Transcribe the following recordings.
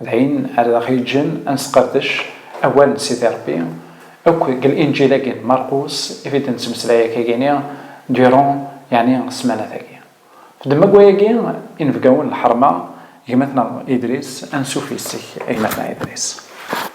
D ayen ara aɣ-yeǧǧen ad nesqerdec awal n Sidi Ṛebbi akk deg Linǧil-agi n Marqus i t-id-nettmeslay akayini durant yeɛni ssemanat-agi. Fdem akk wayagi, inebgawen n lḥerma, gma-tneɣ Idris, ansuf yes-k a gma-tneɣ Idris.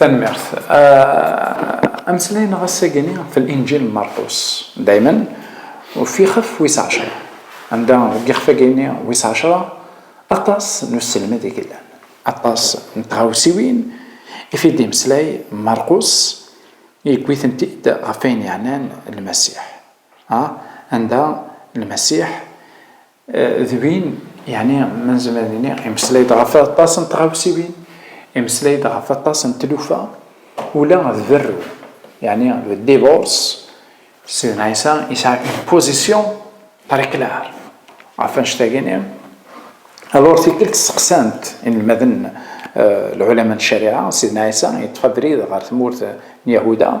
Tanmirt. Euh, Amslay neɣ assagani f l-Injil n Marqus. Daymen, ufixef wis ɛecra. Anda deg ixfagini wis ɛecra, aṭas n uselmed i yellan. Aṭas n tɣawsiwin i t-id-yemslay Marqus, yewwi-tent-id ɣef wayen yeɛnan Lmasiḥ. Anda Lmasiḥ D win, yeɛni ma nezmer ad nini, imeslay-d ɣef aṭas n tɣawsiwin, imeslay-d ɣef aṭas n tlufa, ula d berru, yeɛni le divorce, Sidna Ɛisa yesɛa une position très claire ɣef annect-agi-nni. Alors tikkelt steqsan-t inelmaden, lɛulama n ccariɛa, Sidna Ɛisa yeṭṭef abrid ɣer tmurt n Yahuda,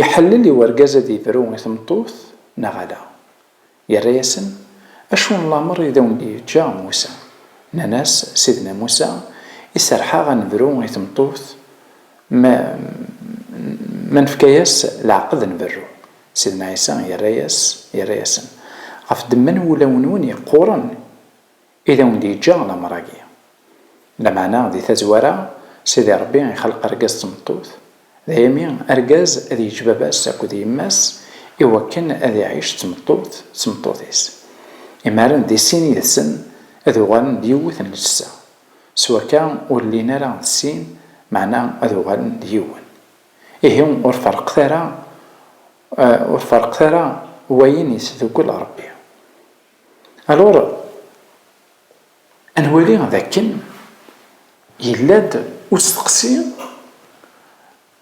Iḥellel i urgaz ad ibru i tmeṭṭut neɣ ala? Yerra-yasen, Acu n lameṛ i d awen-d-yeǧǧa Musa? Nnan-as, Sidna Musa iserreḥ-aɣ ad nebru i tmeṭṭut ma ma nefka-yas leɛqed ad nberru. Sidna Ɛisa yerra-yas, yerra-yasen, Ɣef ddemma n wulawen-nwen yeqquren! I d awen-d-yeǧǧa lamer-agi. Lameɛna, di tazwara, Sidi Ṛebbi ixelq argaz d tmeṭṭut, daymi argaz ad yeǧǧ baba-s akked yemma-s i wakken ad iɛic d tmeṭṭut d tmeṭṭut-is. Imaren di sin yid-sen ad uɣalen d yiwet n ljessa. S wakka, ur llin ara d sin, meɛna ad uɣalen d yiwen. Ihi, ur ferqet ara, ur ferqet ara wayen yesdukkel Ṛebbi. Alors, ad nwali d akken yella-d usteqsi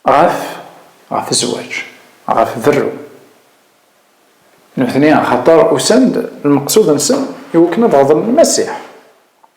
ɣef ɣef zzwaǧ, ɣef berru. Nutni axaṭer usan-d lmeqsud-nsen i wakken ad ɣeḍlen Lmasiḥ.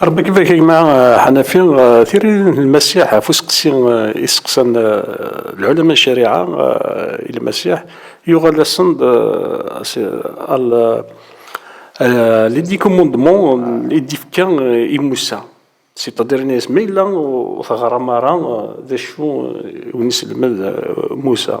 Ṛebbi ibarik a gma Ḥanafi. Tiririt n Lmasiḥ ɣef useqsi i seqsan lɛulama n ccariɛa i Lmasiḥ, yuɣal-asen-d L'Iddhi Commandement i d-ifka i Musa, c'est-à-dire yenna-yas ma yella ur teɣṛam ara d acu i wen-iselmed Musa.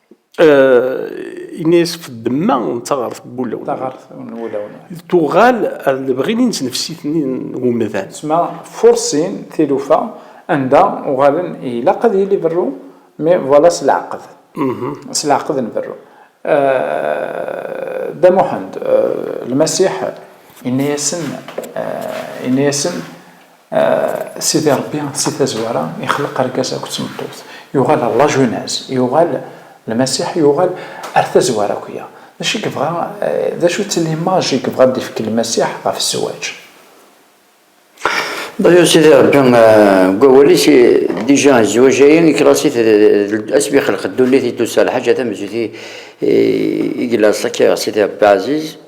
Ini-as ɣef ddemma n taɣart n wulawen. Taɣart n wulawen. Tuɣal ar lebɣi n inesnefsit-nni n umdan. Tesma fursin tilufa anda uɣalen ilaq ad yili berru mi voilà s leɛqed. S leɛqed n berru. Dda Muḥend, Lmasiḥ, inna-yasen, inna-yasen Sidi Ṛebbi si tazwara ixleq argaz akked tmeṭṭut, yuɣal ɣer lajunaz, yuɣal Lmasiḥ yuɣal ar tazwara akya. D acu i yebɣa, d acu-tt limaj i yebɣa ad d-ifk Lmasiḥ ɣef zzwaǧ? Dɣa Sidi Ṛebbi deg wawal-is, dija zzwaǧ-agi iklas-it d asmi ixleq ddunit i d-tusa lḥaǧa tamenzut i yella aṣṣak i Sidi Ṛebbi Ɛaziz.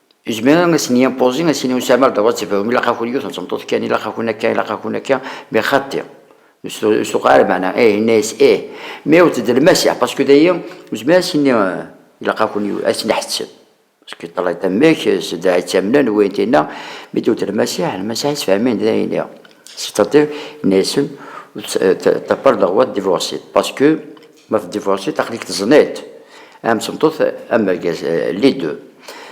Izmer a sen-yimpozi, a sen-yusamer dɣa ad tebɛum, ilaq-akun yiwet n tmeṭṭut kan, ilaq-akun akka, ilaq-akun akka, mais xaṭi, ur s-tuqeɛ ara lmeɛna, ih, yenna-yas ih, mais ur tedlem assaɛ, parce que dayi, nezmer ad s-nini, ilaq-akun yiwet, ad tt-neḥseb, parce que ṭṭalay-d amek, zedɛa yettamnen, wayen tinna, mi d-tuddlem assaɛ, lmasaḥ yesfehmin-d dayen-nni, c'est-à-dire, yenna-yasen, ur tt-ṭṭaper dɣa ad d-divorcer, parce que Ma tdivorsiḍ aql-ik teẓniḍ-t. Am tmeṭṭut am urgaz, les deux.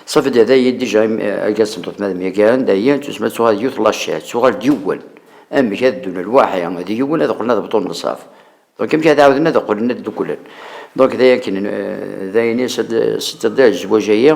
Safi d dayi dija argaz d tmeṭṭut ma d myagaren dayi tsusma tuɣal d yiwet laciɛt, tuɣal d yiwen. Amek ad ddun lwaḥi d yiwen ad qqlen ad bṭun nnṣaf. Donc amek ad ɛawden ad qqlen ad dduklen. Donc d ayen akken, d ayen i s-d-tedda zzwaǧ-agi.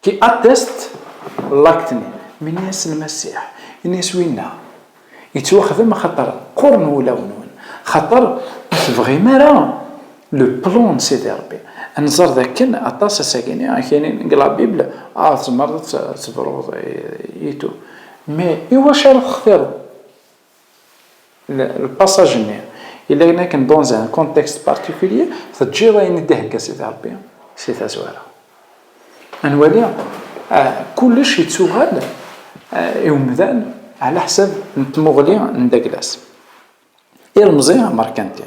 Ti attest l'acte-nni. Menni-yasen Masiḥ, ini-yas winna yettwaxdem axaṭer qquren wulawen-nwen, axaṭer ur tebɣim ara le plan n Sidi Rebbi. Ad nẓer dakken aṭas asagi-nni akk-ini deg la Bible, ah, tzemreḍ ad tebruḍ i tout, mais iwacu ara textireḍ? lpasaǧ-nni, i layen akken dans un contexte particulier teǧǧiḍ ayen i d-ihegga Sidi Ṛebbi si tazwara. Ad nwali kullec yettuɣal i umdan ɛlaḥsab n tmuɣli n Daglas, ilemẓi amerkanti.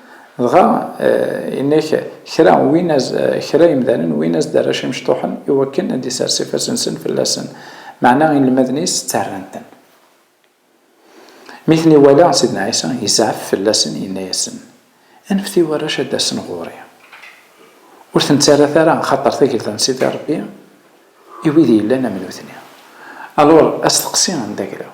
Dɣa yenna-k kra win as, kra yemdanen win as-d-arrac imecṭuḥen i wakken ad d-isers ifassen-nsen fell-asen, meɛna inelmaden-is ttarran-ten. Mi ten-iwala Sidna Ɛisa, yezɛef fell-asen, yenna-yasen, Anfet i warrac ad d-asen ɣur-i. Ur ten-ttarrat ara, axaṭer tagelda n Sidi Ṛebbi i wid yellan am nutni. Alur, asteqsi anda graw.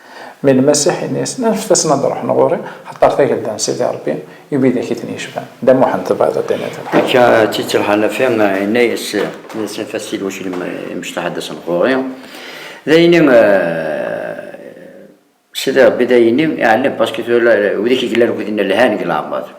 Mi Lmasiḥ inna-yasen, Anfet-asen ad ruḥen ɣur-i, axaṭer Tagelda n Sidi Ṛebbi i widak i ten-yecban. Dda Muḥend, tebɣiḍ a d-tiniḍ lḥaǧa? Akka, Tit Lḥanafi inna-yas, Nnan-as, Anef-as-t i lwaclim imecṭaḥ ad d-asen ɣur-i. D ayenni Sidi Ṛebbi, d ayenni iɛellan, paski tura widak i yellan akked-i lhan deg leɛmeṛ.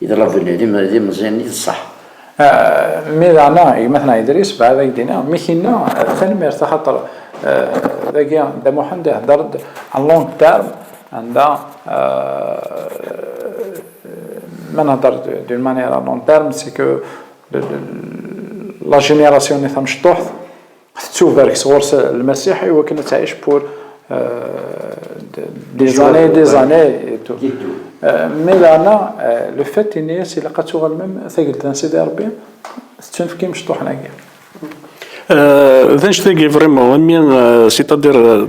Yeḍla Bennay d imeẓyan i ṣṣeḥ. Mi daɣen gma-tneɣ Idris bɛed ad ak-d-iniɣ, mi k-inna tanemmirt axaṭer dagi Dda Muḥend ihedder-d en long terme anda ma nhedder d'une manière à long terme c'est que la génération-nni tamecṭuḥt, Tettubarek sɣur-s Lmasiḥ i wakken ad tɛic pour des années, des années et tout. Mais daɣen le fait yenna-as ilaq ad tuɣal même tagelda n Sidi Rebbi tettunefk i mecṭuḥen-agi. D anect-agi vraiment, c'est-à-dire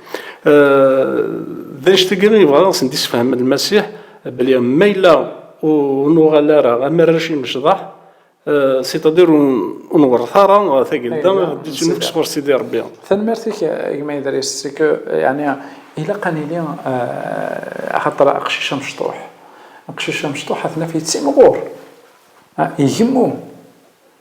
D annect-agi i yebɣa ad sen-d-isefhem Lmasiḥ, belli ma yella ur nuɣal ara am arrac imecḍaḥ, c'est-à-dire ur nwerret ara tagelda d-ittnefk sɣur Sidi Rebbi. Tanemmirt-ik a gma Idris, c'est que yeɛni ilaq ad nili axaṭer aqcic amecṭuḥ, aqcic amecṭuḥ ad t-naf yettimɣur, igemmum.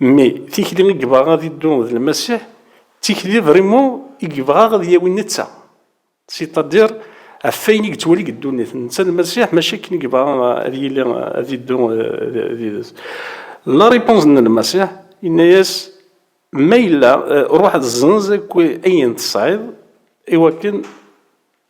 Mmi, tikli i yebɣa ad iddu d Lmasiḥ, d tikli vrimu i yebɣa ad yawi netta, sitadir ɣef wayen i yettwali deg ddunit, netta Lmasiḥ, maca akken i yebɣa ad yili, ad iddu yid-s. La réponse n Lmasiḥ, yenna-yas, Ma yella, ruḥ zzenz akk ayen tesɛiḍ, iwakken.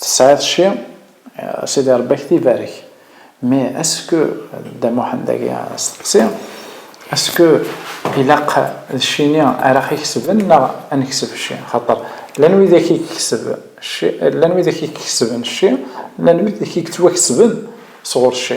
Tesɛiḍ cci? A Sidi Ṛebbi a k-t-ibarek. Mais est-ce que, Dda Muḥend agi asteqsi, est ce que ilaq d cci-ni ara ɣ-ikesben neɣ a nekseb cci? Xaṭer llan widak i ikeseb cci, llan widak i ikesben cci, llan widak i yettwakesben sɣur cci.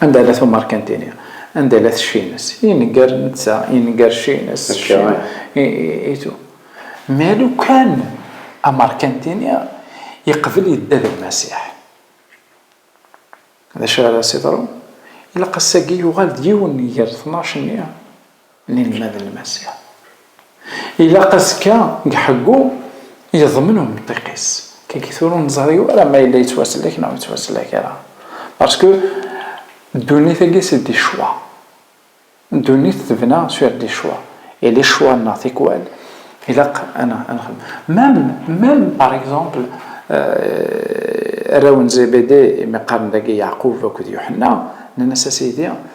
Anda la tumarkantini, anda la tcci-ines, inegger netta, inegger cci-ines, cci, i tu. Ma lukan amarkantini yeqbel yedda d Lmasiḥ, d acu ara as-iḍrun? Ilaq ass-agi yuɣal d yiwen ger tnac-nni n inelmaden n Lmasiḥ. Ilaq azekka deg ḥeggu yeḍmen umṭiq-is. Kagi tura ur neẓri ara ma yella yettwaslek neɣ ur yettwaslek ara. Parsku ddunit-agi si d icwa. Ddunit tebna sur d icwa. Et les choix neɣ tikwal ilaq ad nexdem. Même, même par exemple arraw n Zébédée imi qqaren dagi Yeɛqub akked Yuḥenna, nnan-as a Sidi,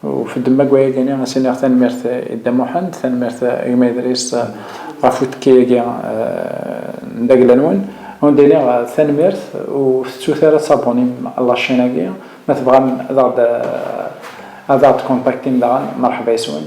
Ufed-d ma deg wayagi-nni ad s-iniɣ tanemmirt i Dda Muḥend, tanemmirt a gma Idris ɣef uttekki-agi n dagla-nwen. Ad wen-d-iniɣ tanemmirt, ur tettut ara ad tabunim la chaîne-agi. Ma tebɣam ad aɣ-d ad aɣ-d-kontaktim daɣen, merḥba yes-wen.